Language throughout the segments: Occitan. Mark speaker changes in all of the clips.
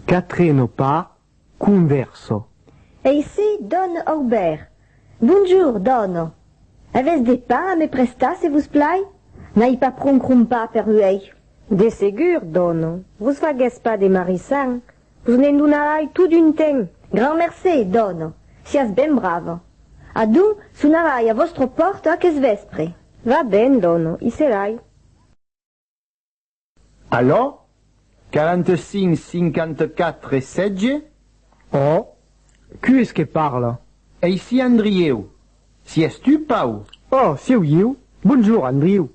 Speaker 1: Quatre no pas convèrso. Eissi,
Speaker 2: dòn Aubèrt. Bonjour, dòna. Avètz de pan a me prestar, se vos plai? N'ai pas pron crompa per uèi. De segur,
Speaker 3: dòna. Vos faguètz pas de marissar. Vos ne'n donarai tot un temps. Grand mercé,
Speaker 2: dòna, siás ben brava. Adonc, sonarai a vòstra pòrta aqueth vèspre. Va ben, dòna,
Speaker 3: i serai.
Speaker 4: Alò, 45 54 sètge? Ò!
Speaker 1: Qué es que parla? Eicí
Speaker 4: Andrieu! Si es tu, Pau! Ò! Sieu ieu?
Speaker 1: Bonjour, Andriu!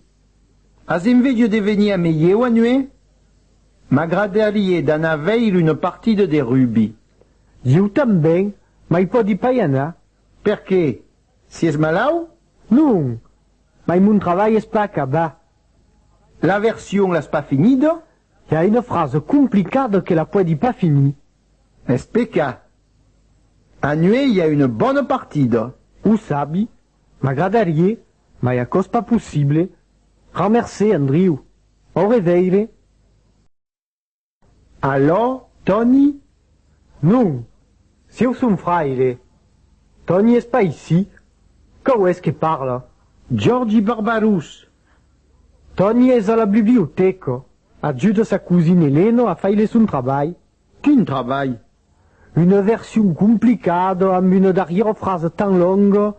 Speaker 1: As
Speaker 4: enveja de venir a me ieu a nuer? M'agradarie d'anar veir una partida de rugbi. Iu
Speaker 1: tanben, mai pòdi pas i anar. Perqué?
Speaker 4: Si es malau? Non!
Speaker 1: Mai mon travalh es pas acabat. La
Speaker 4: version l'as pas finida? I a una
Speaker 1: frasa complicada que la pòdi pas finir. Es pecat.
Speaker 4: Anuèi i a una bona partida. O sabi.
Speaker 1: M'agradarie, mai aquò's pas possible, ramercer Andriu. Au reveire.
Speaker 4: Alò, Tòni? Non,
Speaker 1: sieu son fraire. Tòni es pas ici. Quau es que parla? Giòrgi
Speaker 4: Barbarus!
Speaker 1: Tòni es a la bibliotèca, ajuda sa cosina Elena a faire son trabalh. Quin trabalh!
Speaker 4: Una
Speaker 1: version complicada amb una darrièra frasa tan longa,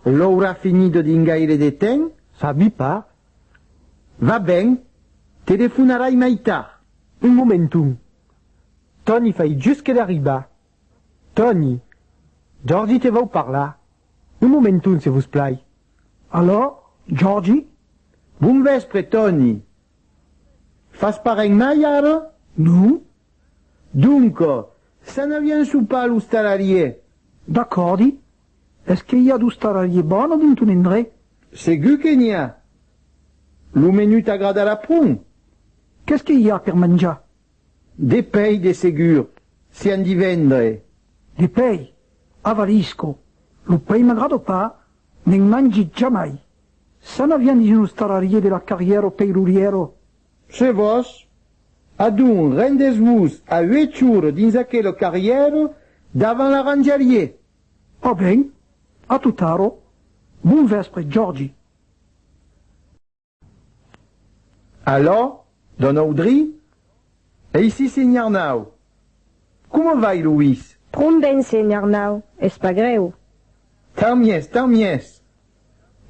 Speaker 1: l'aurà
Speaker 4: finida dins gaire de temps? Sabi pas.
Speaker 1: Va
Speaker 4: ben, telefonarai mai tard. Un momenton.
Speaker 1: Tòni fai just que d'arribar. Tòni, Jòrgi te vòu parlar. Un momenton, se vos plai. Alò, Jòrgi? Bon
Speaker 4: vèspre, Tòni. Fas parent mai ara? Non.
Speaker 1: Donc,
Speaker 4: s'anariá ensopar a l'ostalarier? D'acòrdi.
Speaker 5: Es que i a d'ostalarier bon a dint ton endrech? Segur que n'i
Speaker 4: a. Lo menú t'agradarà pron. Qu'es que
Speaker 5: i a per manjar? De
Speaker 4: pei de segur, se an d'i vendre. De pei?
Speaker 5: Avarisco. Lo pei m'agrada pas, Ne'n mangit jamai. Ça n'a rien dins los tarariers de la carrière au peiruriero. Se vos,
Speaker 4: adon, rendètz-vos a uèch ores dins aquela carrière, davant la ranjarie. Ò ben,
Speaker 5: a tot arro, bon vèspre, Jordi.
Speaker 4: Alò, don Audry, Eici, senhor Arnau! Coma vai, Luís? Pron ben, senhor
Speaker 3: Arnau, es pas grèu. Tau mies,
Speaker 4: tau mies!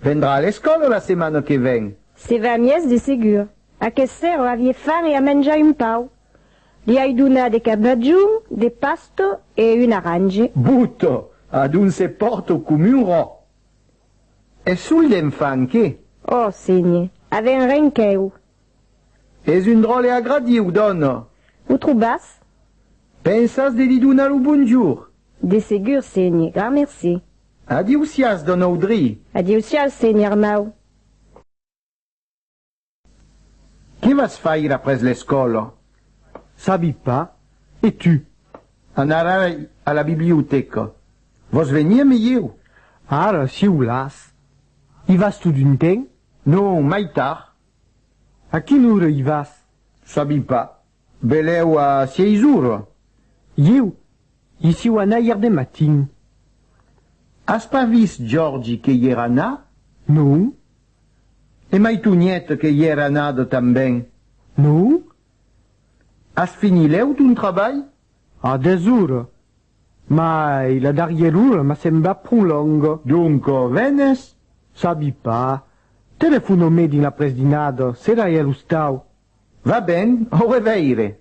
Speaker 4: Vendrà a l'escòla la setmana que ven? Se va mies de
Speaker 3: segur. Aqueth sèro avie fan e a menjar un pau. Li ai donat de cabajon, de pasto e un arrange. Boto!
Speaker 4: Adonc se pòrt o com un rò! Es sul d'enfant que. Ò, sénhe,
Speaker 3: aven ren qu'èu.
Speaker 4: Es un dròlle agradiu, dòna. O trobas?
Speaker 3: Pensas
Speaker 4: de li donar lo bonjour? De segur,
Speaker 3: sénhe, gran mercé. Adiu-siàs,
Speaker 4: dòna Audry. Adiu-siàs, sénhe
Speaker 3: Arnau.
Speaker 4: Qué vas faire après l'escòla? Sabi
Speaker 1: pas, e tu? Anarai
Speaker 4: a la bibliotèca. Vòs venir me ieu? Ara, si
Speaker 1: volàs. I vas tot un temps? Non, mai
Speaker 4: tard. A
Speaker 1: quina ora i vas? Sabi pas.
Speaker 4: Velèu a sièis ora? Ieu
Speaker 1: i siu anar ièr de matin.
Speaker 4: As pas vist Jordi que ièr anar? Non. E mai Tonièt que ièr anada tanben? Non. As finilèu ton trabalh? A dètz
Speaker 1: ora. Mai la darrièr ora m'a semblat pro longa. Donc venes?
Speaker 4: Sabi
Speaker 1: pas. Telefono-me dins l'apresdinada, sera ièr ostau. Va ben,
Speaker 4: au reveire!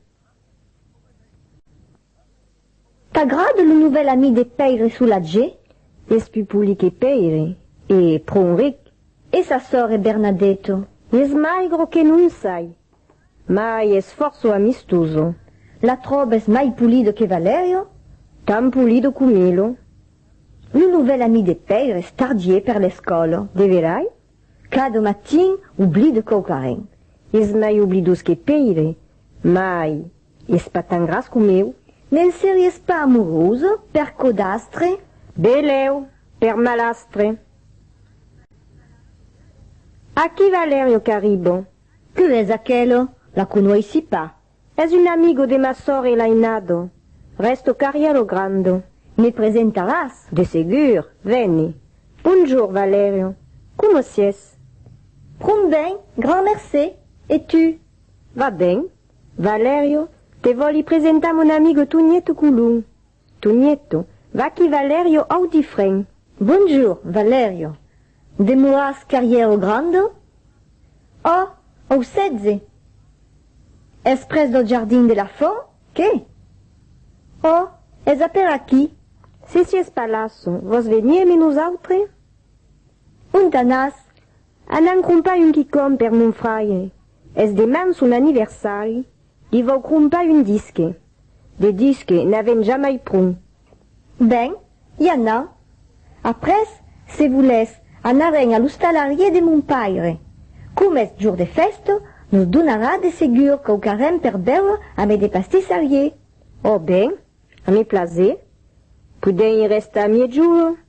Speaker 2: T'agrade lo novèl ami de Pèire Solatge? Eth pupolic
Speaker 3: e Pèire, e pro un ric, e sa sòr
Speaker 2: e Bernadèto, e eth maigro
Speaker 3: que non sai, mai es fòrço amistoso. La tròbes
Speaker 2: mai polido que Valèrio? Tan polido
Speaker 3: com Milo. Lo
Speaker 2: novèl ami de Pèire es tardier per l'escòla, de verai?
Speaker 3: Cada
Speaker 2: matin oblide quauquarren. Es mai
Speaker 3: oblidós que Pèire. Mai, es pas tan gras com eu. Ne'n series
Speaker 2: pas amorosa, per codastre? Belèu,
Speaker 3: per malastre.
Speaker 2: A qui va l'èrrio qu'arriba? Que es aquela? La conoissi
Speaker 3: pas. Es un amigo de ma sòr e l'ainado. Res tocaria lo grando. Me presentaràs?
Speaker 2: De segur,
Speaker 3: veni. Bonjour, Valerio. Coma sies? Pron
Speaker 2: ben, grand mercé. E tu? Va ben.
Speaker 3: Valerio, te vòli presentar mon amigo Tonièto Colon. Tu Nieto, vaquí Valerio Audifren. Bonjour,
Speaker 2: Valerio. Demoras carrièr au Grandon? Ò, au setze? Es pres dau jardin de la Font, qué? Ò, es a per aquí. Se sies pas
Speaker 3: lasso, vòs venir eme nosautre? Ont
Speaker 2: anàs?
Speaker 3: Anant crompar un quicòm per mon fraire, es deman son anniversari, Li vau crompar un disque. De disque, n'avèm jamai pron. Ben,
Speaker 2: i anà. Après, se volètz, anarem a l'ostalarier de mon paire. Coma es jour de fèsta, nos donarà de segur quauquarren per bèure amé de pastissarier.
Speaker 3: Ò ben, a me plaser. Podèm i restar miègjorn.